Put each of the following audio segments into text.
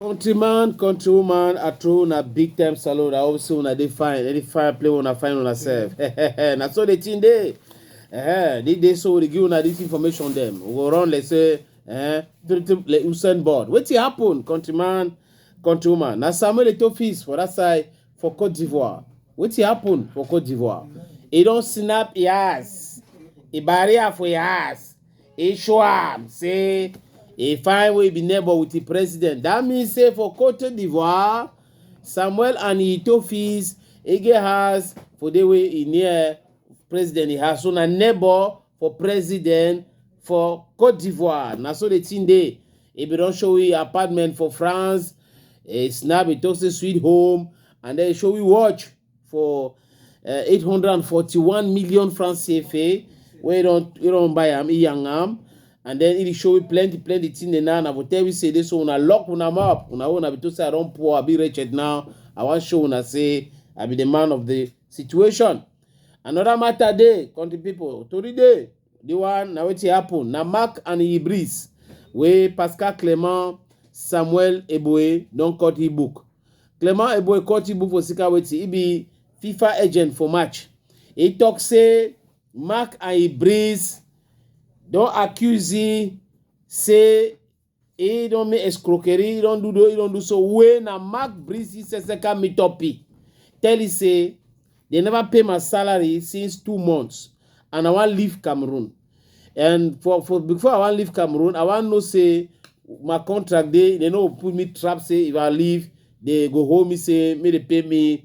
countryman countrywoman at home na big time salon i hope say una dey fine any fire play una find una sef na so the thing dey eh the day so we dey give una this information dem we go run like say eh like usain bolt wetin happen countryman countrywoman na samuel eto'o fees for that side for Cote d'Ivoire. Wetin happen for Cote d'Ivoire? He don snap e ass, e barrier for e ass, e show am say e find wey be neighbor with the president. That means say for Cote d'Ivoire, Samuel and Itofi's Ege house for the way e near president e house. So na neighbor for president for cote d'ivoire na so the thing dey e bin don show you apartment for france e snap e talk say sweet home and then e show you watch for uh, 841 million francs cfa wey e don e don buy am e yang am and then e dey show you plenty plenty thing dey now na for tell you say this one una lock una mouth una own na be to say i don poor i be wretched now i wan show una say i be the man of the situation Another matter dey, country people, tori dey. The one na wetin happen na Mark and Ibris wey Pascal Clement Samuel Eboe don cut e book. Clement Eboe cut e book for Sika wetin e be FIFA agent for March. E talk say Mark and Ibris don accuse e say He don't make escroquerie, he don't do do, he don't do so. When na Mark Breezy Seseka meet up, he tell he say they never pay my salary since two months, and I want leave Cameroon. And for for before I want leave Cameroon, I want know say my contract they they no put me trap say if I leave they go hold me say me they pay me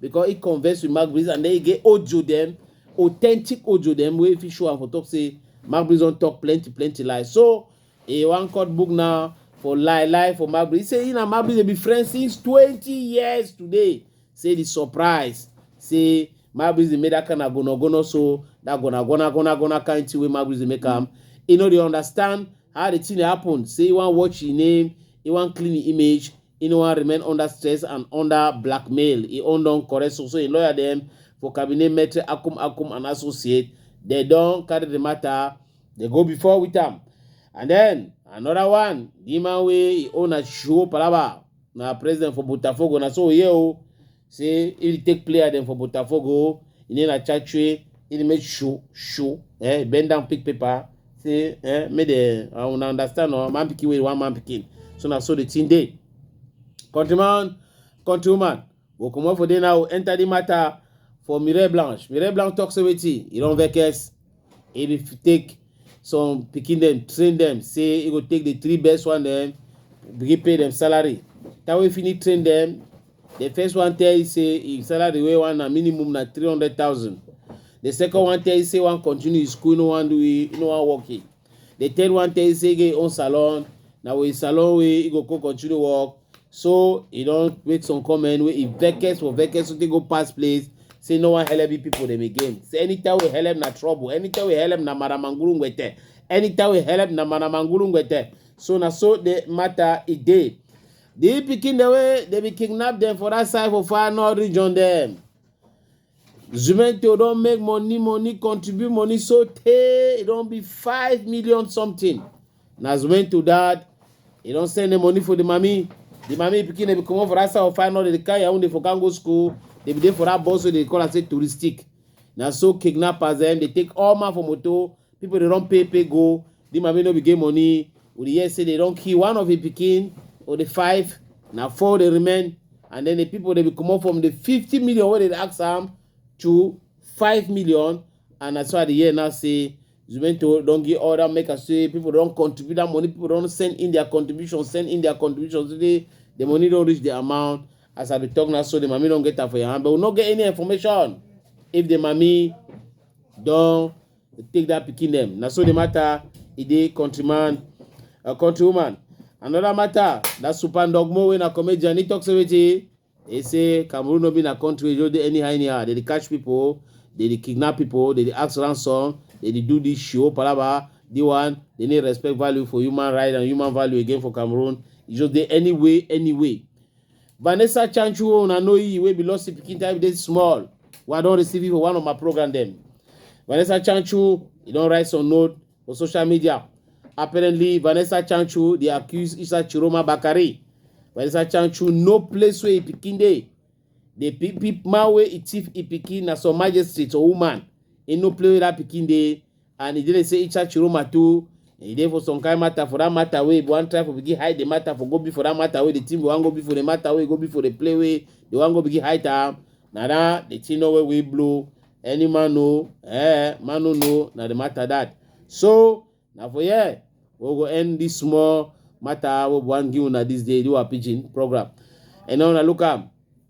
because he converse with Mark Breeze and then he get audio them, authentic audio them where if he show and for talk say Mark Breeze don't talk plenty, plenty lies. So he one court book now for lie lie for Mark Breeze. He say he and Mark Breeze they be friends since 20 years today. Say the surprise. Say Mark Breeze they made that kind of gonna gonna so that gonna gonna gonna gonna kind thing where Mark Breeze they make come. You know they understand how the thing happen. Say he want watch his name, he want clean the image, He no wan remain under stress and under blackmail. He own don correct so so him lawyer dem for cabinet Maitre Akum Akum and associate dem don carry the matter dey go before with am. And then another one, the man wey he own na Shuo Palaba na president for Botafogo na so we hear o. say if you take player dem for botafogo you need na chachue you need make show show eh bend down pick paper say eh make dem uh, una understand or man pikin wey one man pikin so na so the thing dey countryman countrywoman go comot for there now enter the matter for mire blanche mire blanche talk say wetin e don vex He dey f- take some pikin dem, train dem, say he go take the three best one dem, begin pay dem salary. Time wey he finish train dem, the first one tell he say him salary wey one na minimum na three hundred thousand. The second one tell he say wan continue his school, he no wan do he no wan work he. The third one tell he say he get him own salon, na with him salon wey he go come continue work. so e don make some comment wey e vex for vex so take go pass place say no wan help people dem again say anytime we help na trouble anytime we help na maramanguru ngwete anytime we help na maramanguru ngwete so na so the matter e dey the pikin dem wey dem be kidnap dem for that side for far north region dem Juvento don make money, money, contribute money so tey e don be five million something. Na Juvento dad, e don send the money for the mami. The mami pikin dey be comot for that side of final, dey carry her own dey for can go school. Dey be dey for that bus wey dey call am say touristic. Na so kidnappers dem dey take all man for motor, people dey run pay pay go. di man wey no be get money we dey hear say dem don kill one of im pikin or di five na four dey remain and then di pipo dey be comot from di fifty million wey dem ask am to five million and na so i dey hear now say zumento don give order make am say pipo don contribute dat money pipo don send in dia contribution send in dia contribution today di money don reach di amount as i dey tok now so di mami don get am for im hand but we no get any information if di mami don Dey take that pikin dem. Na so the matter e dey countryman or countrywoman. Another matter, that Super Ndogmo wey na comedian, he talk say wetin? He say Cameroon no be na country wey just dey anyhow anyhow. They dey catch people, they dey kidnap people, they dey ask ransom, they dey do this show palava, the one they need respect value for human right and human value again for Cameroon. E just dey any way, any way. Vanessa Chanchuo, una know you, wey be lost pikin time dey small. Wey I don receive you for one of my program dem. Vanessa Chanchu, e don write some note for social media. Apparently, Vanessa Chanchu dey accuse Isa Chiroma Bakare. Vanessa Chanchu no place where e pikin dey. The pe- pe- man where e thief e pikin na some magistrate or woman. E no play where that pikin dey. and e dey like say Icha Chiroma too e dey for some kind matter for that matter wey we wan try for begin hide the matter for go be for that matter wey the thing we wan go be for the matter wey go be for the play wey they wan go begin hide am na that the thing no wey we blow any man know eh man no know na the matter that so na for here we go end this small matter wey we wan give una this day do our pidgin program and now una look am